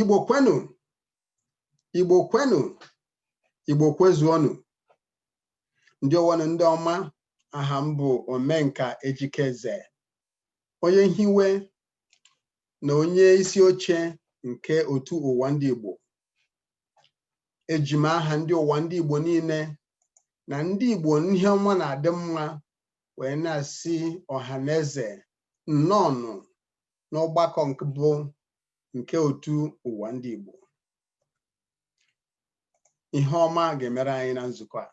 igbo kwenu igbo kwenu igbo kwezuonụ ndị ọwanụ ndị ọma aha m bụ omenka ejike eze onye nhiwe na onye isi oche nke otu ụwa ndị igbo eji m aha ndị ụwa ndị igbo niile na ndị igbo ihe ọma na-adị mma wee na-asị ọha na eze nnọọnụ n'ọgbakọ mbụ nke otu ụwa ndị Igbo ihe ọma ga-emere anyị na nzukọ a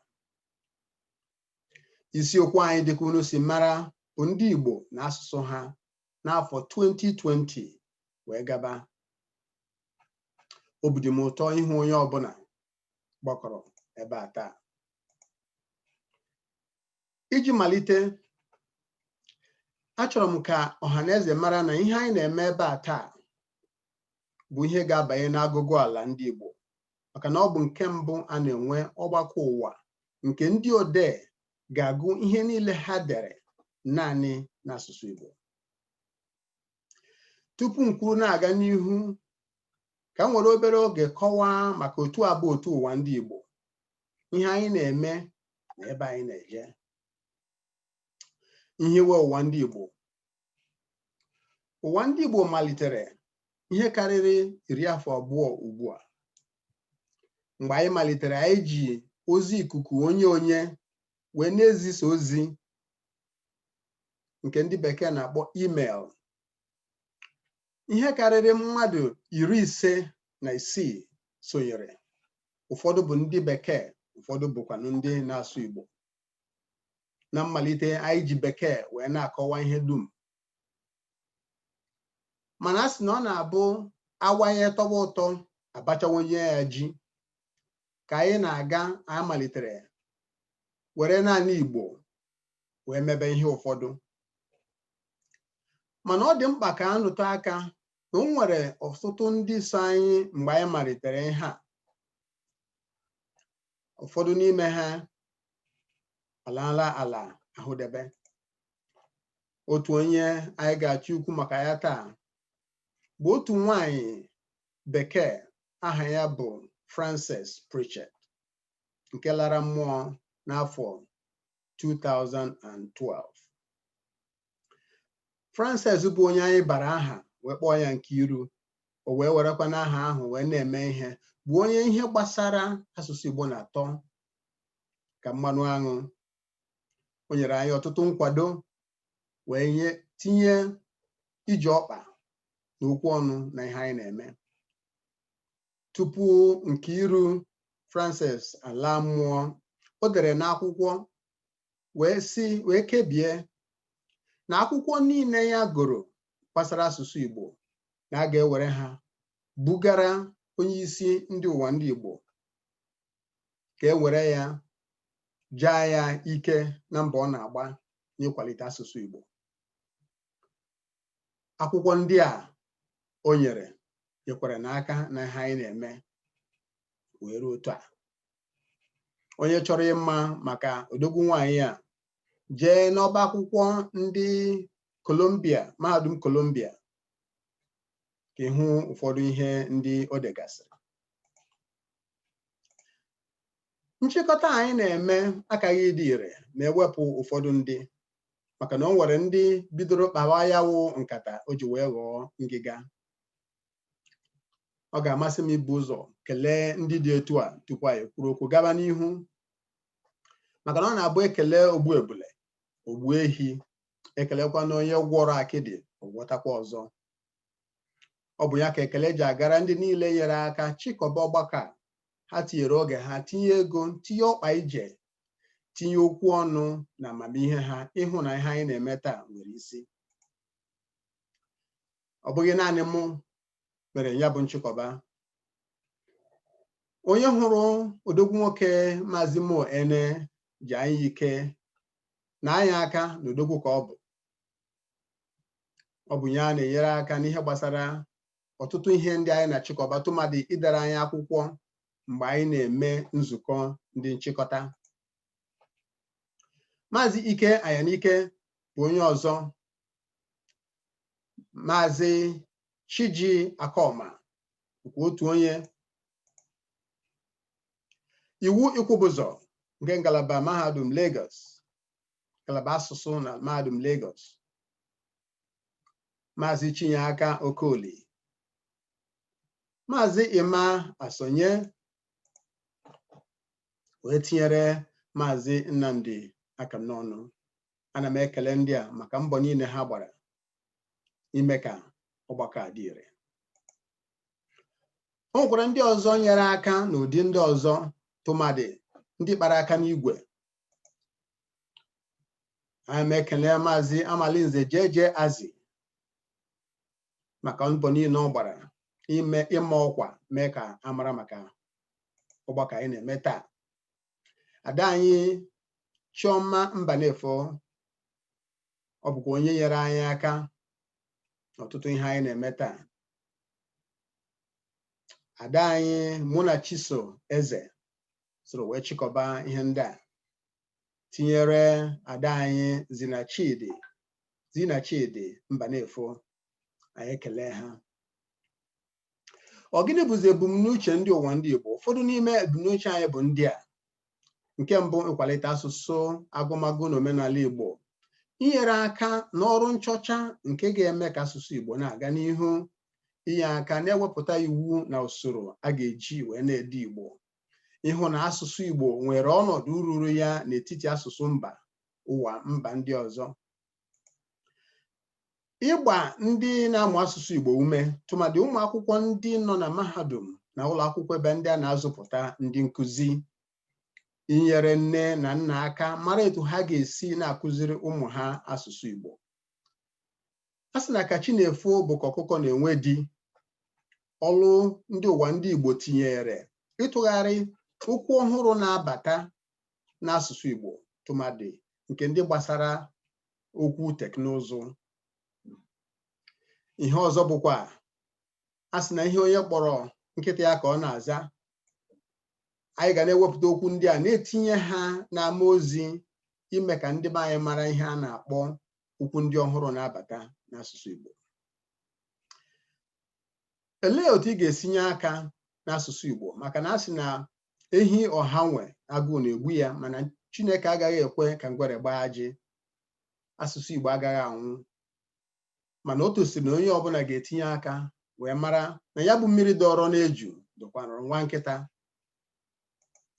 isiokwu anyị dịka unu si mara bụ ndị Igbo na asụsụ ha n'afọ 2020 wee gaba obi dị m ụtọ ịhụ onye ọbụla gbakọrọ ebe a taa iji malite achọrọ m ka ọha na eze mara na ihe anyị na-eme ebe a taa bụ ihe ga-abanye n'agụgụ ala ndị Igbo maka na ọ bụ nke mbụ a na-enwe ọgbakọ ụwa nke ndị odee ga-agụ ihe niile ha dere naanị n'asụsụ Igbo tupu m kwuru na-aga n'ihu ka m were obere oge kọwaa maka otu a bụ otu ụwa ndị Igbo ihe anyị na-eme na ebe anyị na-eje nhiwe ụwa ndị Igbo ụwa ndị Igbo malitere ihe karịrị iri afọ abụọ ugbu a mgbe anyị malitere anyị ji ozi ikuku onye onye wee na-ezisa ozi nke ndị bekee na-akpọ email ihe karịrị mmadụ iri ise na isii sonyere ụfọdụ bụ ndị bekee ụfọdụ bụkwanụ ndị na-asụ Igbo na mmalite anyị ji bekee wee na-akọwa ihe dum mana a sị na ọ na-abụ awayị tọwa ụtọ a bachawanye ya ji ka anyị na-aga anyị malitere were naanị Igbo wee mebe ihe ụfọdụ mana ọ dị mkpa ka a rụtụ aka na o nwere ọtụtụ ndị so anyị mgbe anyị malitere ihe a ụfọdụ n'ime ha alaala ala ahụdebe otu onye anyị ga-achọ ikwu maka ya taa bụ otu nwanyị bekee aha ya bụ Frances Pritchett nke lara mmụọ n'afọ 2012 Frances bụ onye anyị bara aha wee kpọọ ya Nkiru o wee werekwanụ aha ahụ wee na-eme ihe bụ onye ihe gbasara asụsụ Igbo na-atọ ka mmanụ aṅụ o nyere anyị ọtụtụ nkwado wee na-etinye ije ọkpa na okwu ọnụ n'ihe anyị na-eme tupu Nkiru Frances ala mmụọ o dere n'akwụkwọ wee sị wee kebie na akwụkwọ niile ya gụrụ gbasara asụsụ Igbo na a ga-ewere ha bugara onye isi ndị Ụwandịigbo ka e were ya jaa ya ike na mbọ ọ na-agba n'ịkwalite asụsụ Igbo akwụkwọ ndị a o nyere nyekwara n'aka n'ihe anyị na-eme wee ruo otu a onye chọrọ ịma maka odogwu nwaanyị a jee n'ọba akwụkwọ ndị Columbia mahadum Columbia ka ị hụ ụfọdụ ihe ndị o degasịrị nchịkọta anyị na-eme akaghị ịdị ire ma e wepụ ụfọdụ ndị maka na o nwere ndị bidoro kpawa ya wụ nkata o ji wee ghọọ ngịga ọ ga-amasị m ibu ụzọ kelee ndị dị etu a tupu anyị kwuru okwu gaba n'ihu maka na ọ na-abụ e kelee ogbu ebule o gbuo ehi e kelekwanụ onye gwọrọ akịdị ọ gwọtakwa ọzọ ọ bụ ya ka ekele ji agara ndị niile nyere aka chịkọba ọgbakọ a ha tinyere oge ha tinye ego tinye ọkpa ije tinye okwu ọnụ na amamihe ha ịhụ na ihe anyị na-eme taa nwere isi ọ bụghị naanị mụ mere ya bụ nchịkọba onye hụrụ odogwu nwoke maazị Mo Ene jaa ya ike naa ya aka na odogwu ka ọ bụ ọ bụ ya na-enyere aka n'ihe gbasara ọtụtụ ihe ndị anyị na-achịkọba tụmadị idere anyị akwụkwọ mgbe anyị na-eme nzukọ ndị nchịkọta maazị Ike Anyanike bụ onye ọzọ maazị Chiji Akoma bụkwa otu onye Iwu Ikwubụzọ nke ngalaba mahadum Lagos ngalaba asụsụ na mahadum Lagos maazị Chinyeaka Okoli maazị Emma Asonye wee tinyere maazị Nnamdi Akamnọnụ ana m ekele ndị a maka mbọ niile ha gbara ime ka ọgbakọ a dị ire o nwekwara ndị ọzọ nyere aka n'ụdị ndị ọzọ tụmadị ndị kpara aka n'igwe ana m ekele maazị amalinze jeje azi maka mbọ niile ọ gbara ime ịma ọkwa mee ka a mara maka ọgbakọ anyị na-eme taa ada anyị Chioma Mbanefo ọ bụkwa onye nyere anyị aka n'ọtụtụ ihe anyị na-eme taa ada anyị Munachiso Eze soro wee chịkọba ihe ndị a tinyere ada anyị Zinachidi Zinachidi Mbanefo anyị ekele ha ọ gịnị bụzi ebumnuche ndị Ụwandịigbo ụfọdụ n'ime ebumnuche anyị bụ ndị a nke mbụ ịkwalite asụsụ agụmagụ na omenala Igbo inyere aka n'ọrụ nchọcha nke ga-eme ka asụsụ Igbo na-aga n'ihu inye aka na-ewepụta iwu na usoro a ga-eji wee na-ede Igbo ịhụ na asụsụ Igbo nwere ọnọdụ ruru ya n'etiti asụsụ mba ụwa mba ndị ọzọ ịgba ndị na-amụ asụsụ Igbo ume tụmadị ụmụ akwụkwọ ndị nọ na mahadum na ụlọ akwụkwọ ebe ndị a na-azụpụta ndị nkụzi inyere nne na nna aka mara etu ha ga-esi na-akụziri ụmụ ha asụsụ Igbo a sị na ka chi na-efo bụ ka ọkụkọ na-enwe di ọlụ ndị Ụwandịigbo tinyere ịtụgharị okwu ọhụrụ na-abata n'asụsụ Igbo tụmadị nke ndị gbasara okwu teknụzụ ihe ọzọ bụkwa a sị na ihe onye kpọrọ nkịta ya ka ọ na-aza anyị ga na-ewepụta okwu ndị a na-etinye ha n'ama ozi ime ka ndị be anyị mara ihe a na-akpọ okwu ndị ọhụrụ na-abata n'asụsụ Igbo olee otu ị ga-esi nye aka n'asụsụ Igbo maka na a sị na ehi ọha nwe agụụ na-egbu ya mana Chineke agaghị ekwe ka ngwere gbaa ajị asụsụ Igbo agaghị anwụ mana o tosiri na onye ọbụla ga-etinye aka wee mara na ya bụ mmiri dọrọ n'eju dọkwanụrụ nwa nkịta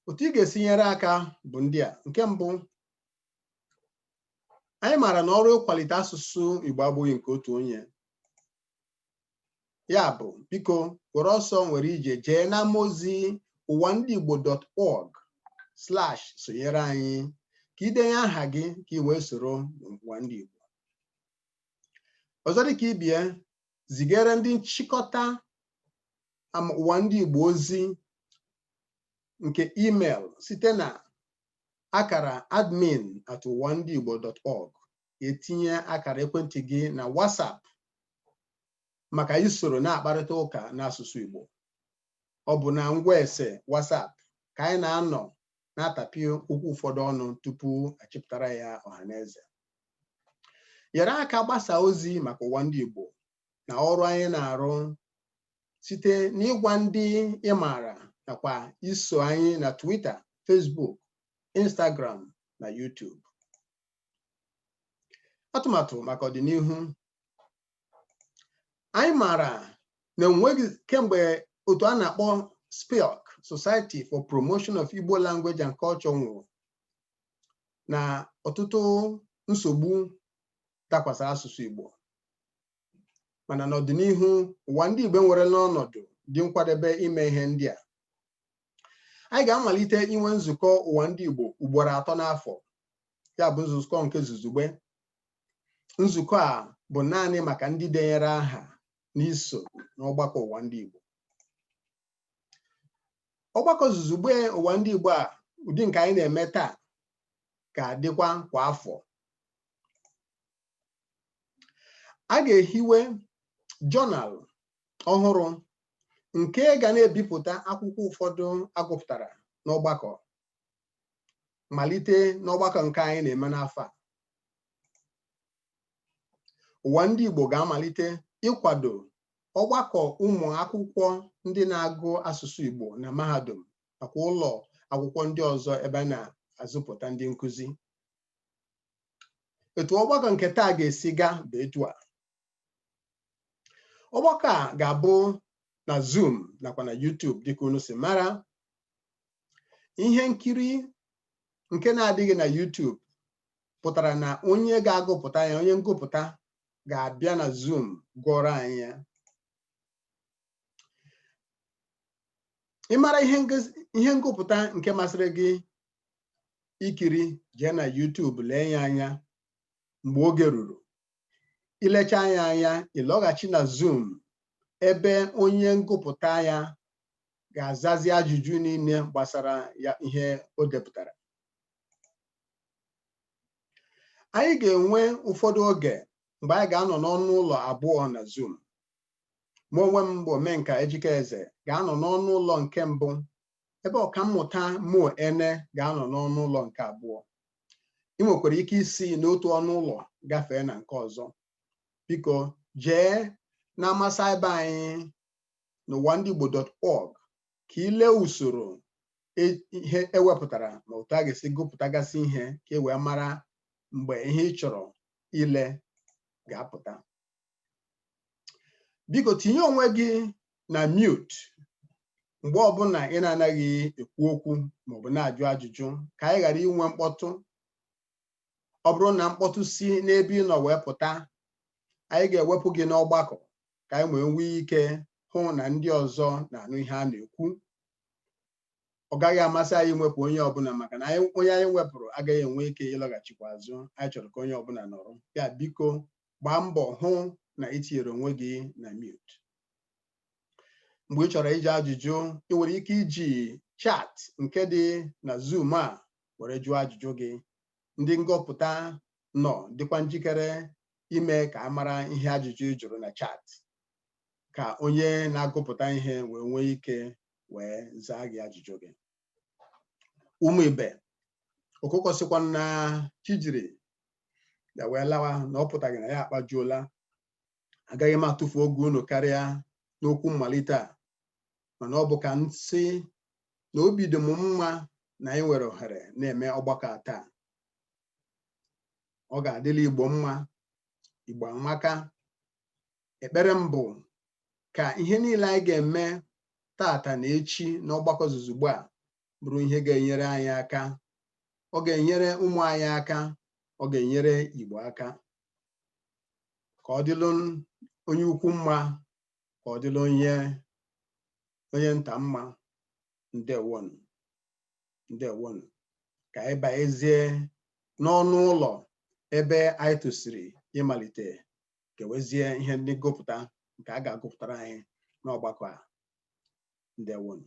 otu ị ga-esi nyere aka bụ ndị a nke mbụ anyị maara na ọrụ ịkwalite asụsụ Igbo abụghị nke otu onye ya bụ biko were ọsọ were ije jee n'ama ozi ụwa ndị igbo dot org slash sonyere anyị ka i denye aha gị ka ị wee soro n'ụwa ndị igbo ọzọ dịka ibe ya zigara ndị nchịkọta ama ụwa ndị igbo ozi nke email site na akara admin at ụwa ndị igbo dot org e tinye akara ekwentị gị na WhatsApp maka isoro na-akparịta ụka n'asụsụ Igbo ọ bụ na ngwa ese WhatsApp ka anyị na-anọ na-atapị okwu ụfọdụ ọnụ tupu a chịpụtara ya ọha na eze nyere aka gbasa ozi maka ụwa ndị Igbo na ọrụ anyị na-arụ site n'ịgwa ndị ị maara nakwa iso anyị na Twitter, Facebook, Instagram na YouTube. atụmatụ maka ọdịnihu anyị maara na enweghị kemgbe otu a na-akpọ SPILC Society for Promotion of Igbo Language and Culture nwụrụ na ọtụtụ nsogbu dakwasara asụsụ Igbo mana n'ọdịnihu ụwa ndị Igbo nwere n'ọnọdụ dị nkwadebe ime ihe ndị a anyị ga-amalite inwe nzukọ ụwa ndị Igbo ugboro atọ n'afọ ya bụ nzukọ nke zuzugbe nzukọ a bụ naanị maka ndị denyere aha n'iso n'ọgbakọ ụwa ndị Igbo ọgbakọ zuzugbe ụwa ndị Igbo a ụdị nke anyị na-eme taa ga-adịkwa kwa afọ a ga-ehiwe jọnal ọhụrụ nke ga na-ebipụta akwụkwọ ụfọdụ a gụpụtara n'ọgbakọ malite n'ọgbakọ nke anyị na-eme n'afọ a ụwa ndị Igbo ga-amalite ịkwado ọgbakọ ụmụ akwụkwọ ndị na-agụ asụsụ Igbo na mahadum nakwa ụlọ akwụkwọ ndị ọzọ ebe a na-azụpụta ndị nkụzi etu ọgbakọ nke taa ga-esi gaa bụ etu a ọgbakọ a ga-abụ na Zoom nakwa na YouTube dịka unu si mara ihe nkiri nke na-adịghị na YouTube pụtara na onye ga-agụpụta ya onye ngụpụta ga-abịa na Zoom gụọrọ anyị ya ịmara ihe ngụpụta nke masịrị gị ikiri jee na YouTube lee ya anya mgbe oge ruru ilecha ya anya ịlọghachi na Zoom ebe onye ngụpụta ya ga-azazi ajụjụ niile gbasara ya ihe o depụtara anyị ga-enwe ụfọdụ oge mgbe anyị ga-anọ n'ọnụ ụlọ abụọ na Zoom mụ onwe m bụ Omenka Ejike Eze ga-anọ n'ọnụ ụlọ nke mbụ ebe ọkammụta Mo Ene ga-anọ n'ọnụ ụlọ nke abụọ ị nwekwara ike isi n'otu ọnụ ụlọ gafee na nke ọzọ biko jee na ama saịba anyị n'ụwa ndị Igbo dot org ka ị lee usoro e, ihe e wepụtara na otu a ga-esi gụpụtagasị ihe ka e wee mara mgbe ihe ị chọrọ ile ga-apụta biko tinye onwe gị na mute mgbe ọbụla ị na-anaghị ekwu okwu maọbụ na-ajụ ajụjụ ka anyị ghara inwe mkpọtụ ọ bụrụ na mkpọtụ si n'ebe ị nọ wee pụta anyị ga-ewepụ gị n'ọgbakọ ka anyị wee nwee ike hụ na ndị ọzọ na-anụ ihe a na-ekwu ọ gaghị amasị anyị mwepụ onye ọbụla maka na onye anyị wepụrụ agaghị enwe ike ịlọghachikwa azụ anyị chọrọ ka onye ọbụla nọrọ ya biko gbaa mbọ hụ na ị tinyere onwe gị na mute mgbe ị chọrọ ịjụ ajụjụ ị nwere ike iji chat nke dị na zoom a were jụọ ajụjụ gị ndị ngụpụta nọ dịkwa njikere ime ka a mara ihe ajụjụ ị jụrụ na chat ka onye na-agụpụta ihe wee nwee ike wee zaa gị ajụjụ gị ụmụ ibe ọkụkọ sịkwa na chi jiri ya wee lawa na ọ pụtaghị na ya akpajuola agaghị m atụfu oge unu karịa n'okwu mmalite a mana ọ bụ ka m sị na obi dị m mma na anyị nwere ohere na-eme ọgbakọ a taa ọ ga-adịlị igbo mma igbo amaka ekpere m bụ ka ihe niile anyị ga-eme taata na echi n'ọgbakọ zuzugbo a bụrụ ihe ga-enyere anyị aka ọ ga-enyere ụmụ anyị aka ọ ga-enyere Igbo aka ka ọ dịlụ onye ukwu mma ka ọ dịlụ onye onye nta mma ndewonụ ndewonụ ka anyị banyezie n'ọnụ ụlọ ebe anyị tosiri ịmalite kewezie ihe ndị ngụpụta nke a ga-agụpụtara anyị n'ọgbakọ a ndewonụ